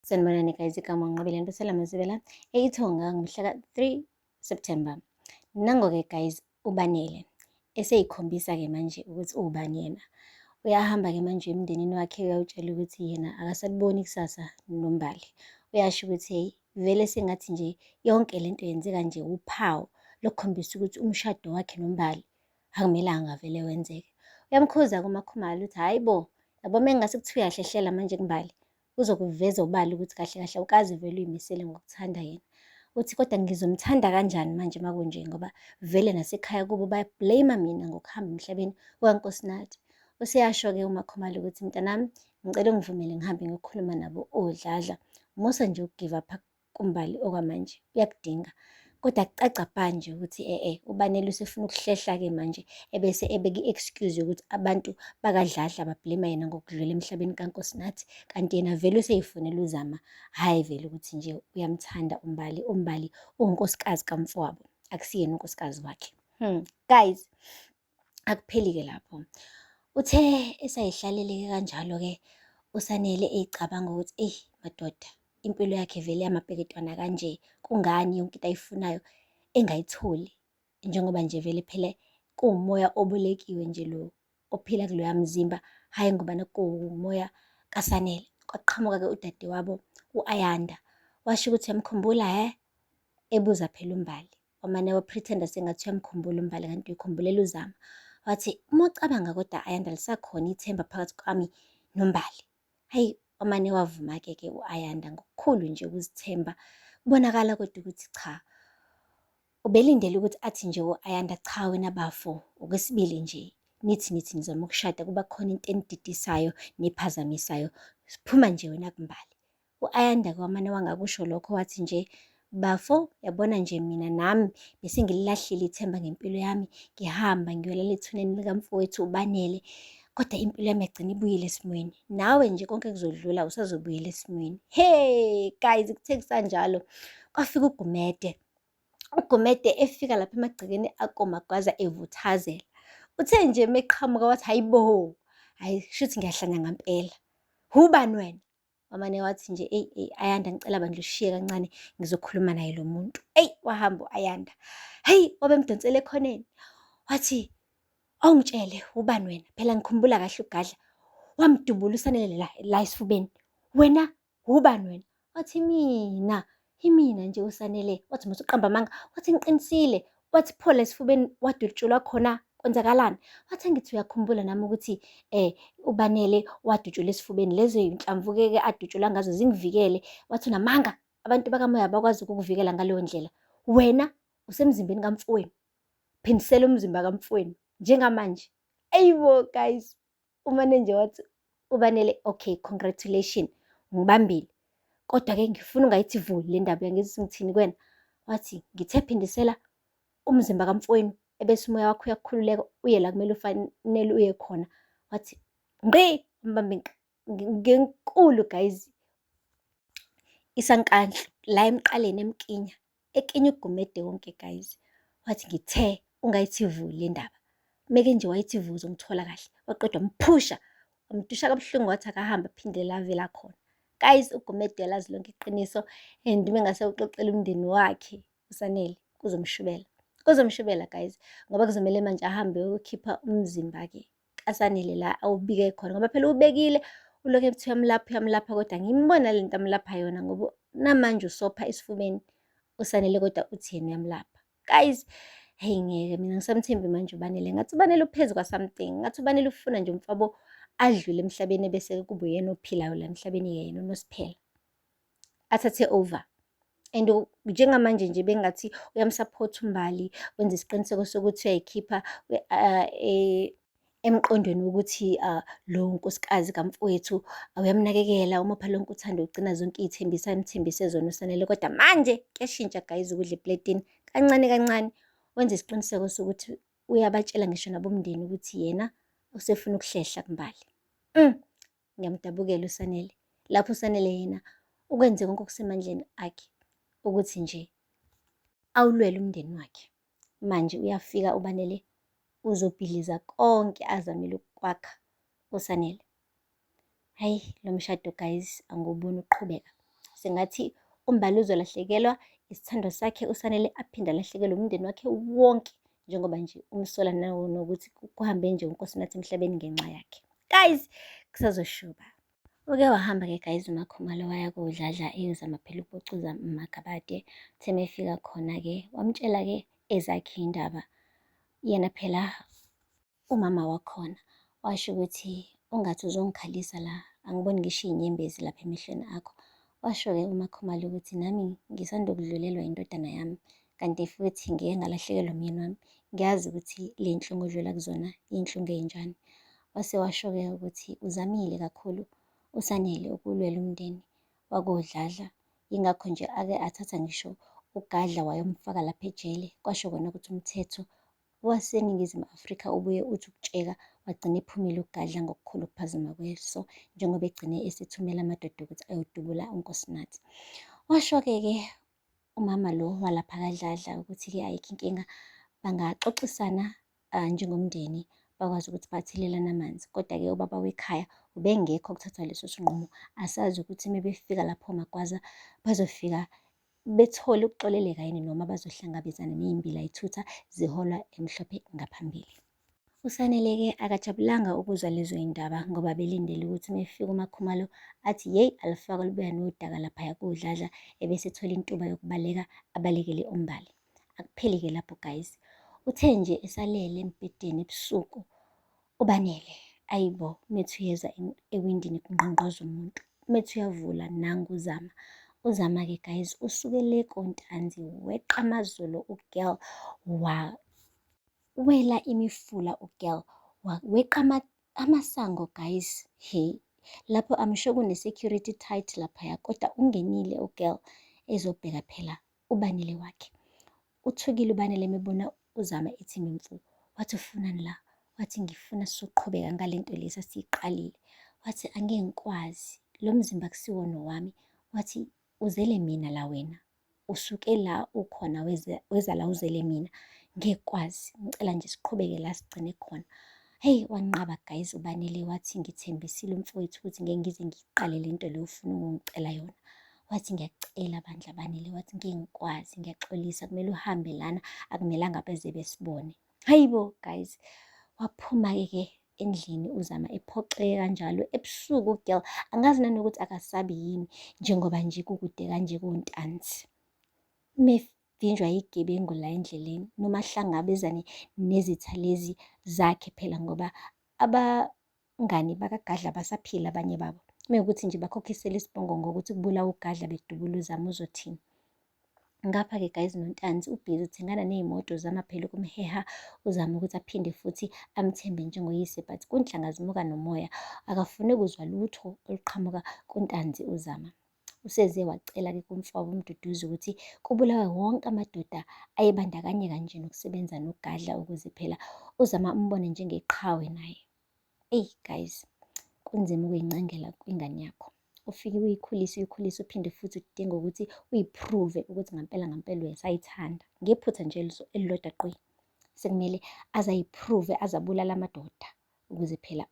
Sanibonani guys, igama nqobile Ntusela Mazibela eIthonga ngomhla ka-3 September. Nango-ke guys ubanele eseyikhombisa-ke manje ukuthi ubani yena. Uyahamba-ke manje emndenini wakhe uyawutshela ukuthi yena akasaliboni ikusasa nombali. Uyasho ukuthi hey vele sengathi nje yonke le nto yenzeka nje uphawu lokukhombisa ukuthi umshado wakhe nombali akumelanga vele wenzeke. Uyamkhuza kumakhumalo ukuthi hhayi bo yabo mengase kuthiwa uyahlehlela manje kumbali uzokuveza obala ukuthi kahle kahle awukazi vele uyimisele ngokuthanda yena uthi kodwa ngizomthanda kanjani manje uma kunje ngoba vele nasekhaya kubo bayablame mina ngokuhamba emhlabeni kukankosinathi useyasho-ke umakhomali ukuthi mntanami ngicela ungivumele ngihambe ngiyokhuluma nabo odladla musa nje ukugive up kuMbali okwamanje uyakudinga kodwa kucaca bha nje ukuthi e-e uBanele usefuna ukuhlehla-ke manje ebese ebeka i-excuse yokuthi abantu bakadladla bablema yena ngokudlula emhlabeni kaNkosinathi kanti yena vele useyifunela uZama hhayi vele ukuthi nje uyamthanda uMbali uMbali ungunkosikazi kamfowabo akusiyena unkosikazi wakhe hmm guys Akupheli-ke lapho. Uthe esayihlalele-ke kanjalo-ke uSanele eyicabanga ukuthi eyi madoda impilo yakhe vele yamabheketwana kanje kungani yonke into ayifunayo engayitholi njengoba nje vele phela kuwumoya obolekiwe nje lo ophila kuloya mzimba hhayi ngobana kuwumoya kaSanele. Kwaqhamuka-ke udadewabo u-Ayanda washo ukuthi yamkhumbula he ebuza phela uMbali. wamane waphretenda sengathi uyamkhumbula umbali kanti uyikhumbulela uzama wathi uma ucabanga kodwa ayanda lisakhona ithemba phakathi kwami nombali hayi wamane wavuma-ke ke u-ayanda ngokukhulu nje ukuzithemba kubonakala kodwa ukuthi cha ubelindele ukuthi athi nje u-ayanda cha wena bafo okwesibili nje nithi nithi nizama ukushada kuba khona into enididisayo nephazamisayo siphuma nje wena kumbali U-Ayanda kwamane wangakusho lokho wathi nje, Bafo, yabona nje mina nami bese ngililahlile ithemba ngempilo yami, ngihamba ngiyolala ethuneni likamfowethu uBanele. Kodwa impilo yami yagcina ibuyile esimweni. Nawe nje konke kuzodlula usazobuyela esimweni. Hey guys, kuthe kusanjalo kwafika uGumede. UGumede efika lapha emagcekeni akoMagwaza evuthazela. Uthe nje meqhamuka wathi hayibo, hayi shuthi ngiyahlanya ngampela. Hubani wena? wamane wathi nje eyi eyi ayanda ngicela bandla ushiye kancane ngizokhuluma naye lo muntu eyi wahamba u-ayanda heyi wabemdonsele ekhoneni wathi awungitshele ubani wena phela ngikhumbula kahle ugadla wamdubula usanele la la esifubeni wena ubani wena wathi mina Imina nje uSanele wathi musa uqamba amanga wathi ngiqinisile wathi phola esifubeni wadutshulwa khona kwenzakalani wathi angithi uyakhumbula nami ukuthi eh ubanele wadutshula esifubeni lezo yinhlamvuke ke adutshula ngazo zingivikele wathi unamanga abantu bakamoya bakwazi ukukuvikela ngaleyo ndlela wena usemzimbeni kamfowenu phindisela umzimba kamfowenu njengamanje ayibo guys umanenja wathi ubanele okay congratulation ngibambile kodwa-ke ngifuna ungayithi vu le ndaba uyangizisa ngithini kwena wathi ngithe phindisela umzimba kamfowenu ebese umoya wakho uyakhululeka uye la kumele ufanele uye khona wathi ngqi mbambe ngenkulu guys isankandla la emqaleni emkinya ekinya ugumede wonke guys wathi ngithe ungayithi vu le ndaba meke nje wayithi vu uzomthola kahle waqeda wamphusha wamdusha kabuhlungu wathi akahambe aphinde lavela khona guys ugumede lazi lonke iqiniso and uma engase uxoxele umndeni wakhe usanele kuzomshubela kuzomshubela guys ngoba kuzomele manje ahambe uyokhipha umzimba-ke asanele la awubike khona ngoba phela ubekile ulokhu ethi uyamlapha uyamlapha kodwa ngimbona le nto amlapha yona ngoba namanje usopha esifubeni usanele kodwa uthi yena uyamlapha guys heyi ngeke mina ngisamthembi manje ubanele ngathi ubanele uphezu kwasamthing ngathi ubanele ufuna nje umfabo adlule emhlabeni ebese kube uyena ophilayo la emhlabeni yena onosiphela athathe over and njengamanje nje bengathi uyamsupport umbali wenza isiqiniseko sokuthi uyayikhipha uh, e, emqondweni wokuthi uh, lo nkosikazi kamfowethu uyamnakekela uma phela lonke uthanda ukugcina zonke iy'thembiso ayimthembise zona usanele kodwa manje kuyashintsha guys ukudla epletini kancane kancane wenza isiqiniseko sokuthi uyabatshela ngisho nabomndeni ukuthi yena usefuna ukuhlehla kumbali mm. Ngiyamdabukela uSanele. Lapho uSanele yena ukwenze konke okusemandleni akhe ukuthi nje awulwele umndeni wakhe. Manje uyafika uBanele uzobhidliza konke azamile ukukwakha uSanele. Hayi lo mshado guys anguboni uqhubeka. Sengathi uMbali uzolahlekelwa isithandwa sakhe uSanele aphinde alahlekelwe umndeni wakhe wonke njengoba nje umsola nawo nokuthi kuhambe nje unkosinathi emhlabeni ngenxa yakhe guys kusazoshuba uke wahamba ke guys umakhumalo waya kodladla eyozama phela ukubucuza magabade uthe mefika khona ke wamtshela ke ezakhe indaba yena phela Umama wakhona washo ukuthi ungathi uzongikhalisa la, angiboni ngisho iy'nyembezi lapha emehlweni akho. Washo-ke uMaKhumalo ukuthi nami ngisanda kudlulelwa indodana yami, kanti futhi ngike ngalahlekelwa umyeni wami. Ngiyazi ukuthi le nhlungu odlula kuzona iy'nhlungu ey'njani. Wase washo-ke ukuthi uzamile kakhulu uSanele ukulwela umndeni wakoDladla, yingakho nje ake athatha ngisho uGadla wayomfaka lapha ejele, kwasho kona ukuthi umthetho waseNingizimu Afrika ubuye uthi ukutsheka wagcina ephumile ukugadla ngokukhulu ukuphazima kweso njengoba egcine esethumela amadoda ukuthi ayodubula uNkosinathi. Washo-ke-ke umama lo walapha kadladla ukuthi-ke ayikho inkinga bangaxoxisana uh, njengomndeni bakwazi ukuthi bathelelane amanzi kodwa-ke ubaba wekhaya ubengekho kuthathwa leso sinqumo asazi ukuthi uma befika lapho magwaza bazofika bethole ukuxoleleka yini noma bazohlangabezana nezimbila ithutha ziholwa emhlophe ngaphambili. USanele-ke akajabulanga ukuzwa lezo yindaba ngoba belindele ukuthi uma efika uMakhumalo athi yeyi alufaka lubuya nodaka laphaya kodladla ebese ethola intuba yokubaleka abalekele uMbali. Akupheli-ke lapho guys. Uthe nje esalele embhedeni ebusuku Ubanele, ayibo methi uyeza ewindini kungqongqoza umuntu. Methi uyavula nangu uzama. Uzama-ke guys usuke le kontanzi weqa amazolo ugirl wa wela imifula ugirl weqa amasango guys he lapho amsho kune-security tight laphaya kodwa ungenile ugirl ezobheka phela uBanele wakhe. Uthukile uBanele mebona uZama ethi ngimfu. Wathi ufunani la? Wathi ngifuna sizoqhubeka ngalento lesa siyiqalile. Wathi angeke ngikwazi. Lo mzimba kusiwona owami. Wathi uzele mina la wena. Usuke la ukhona weza, weza la uzele mina. Ngeke kwazi. Ngicela nje siqhubeke la sigcine khona. Hey wanqaba guys uBanele wathi ngithembisile umfowethu ukuthi ngeke ngize ngiqale lento le ufuna ukungicela yona. wathi ngiyakucela bandla banele wathi ngeke ngikwazi ngiyaxolisa kumele uhambe lana akumelanga beze besibone hayibo guys waphuma-ke ke endlini uzama ephoxeke kanjalo ebusuku girl angazi nanokuthi akasabi yini njengoba nje kukude kanje kontanzi mevinjwa yigebengu la endleleni noma hlangabezane nezitha lezi zakhe phela ngoba aba Ngani, bakaGadla basaphila abanye babo. Mekuthi nje bakhokhisela isibongo ngokuthi kubulawa uGadla bedubula uZama uzothini? Ngapha-ke guys noNtanzi ubhizi uthengana ney'moto uzama phela ukumheha uzama ukuthi aphinde futhi amthembe njengoyise but kunhlanga zimuka nomoya akafune kuzwa lutho oluqhamuka kuNtanzi uzama. Useze wacela-ke kumfowabo uMduduzi ukuthi kubulawe wonke amadoda ayebandakanyeka nje nokusebenza noGadla ukuze phela uZama umbone njengeqhawe naye. eyi guys kunzima ukuyincangela kwingane yakho ufike uyikhulise uyikhulise uphinde futhi udinga ukuthi uyiprove ukuthi ngampela ngampela uyasayithanda ngephutha nje elilodwa qwi sekumele azayiprove azabulala amadoda ukuze phela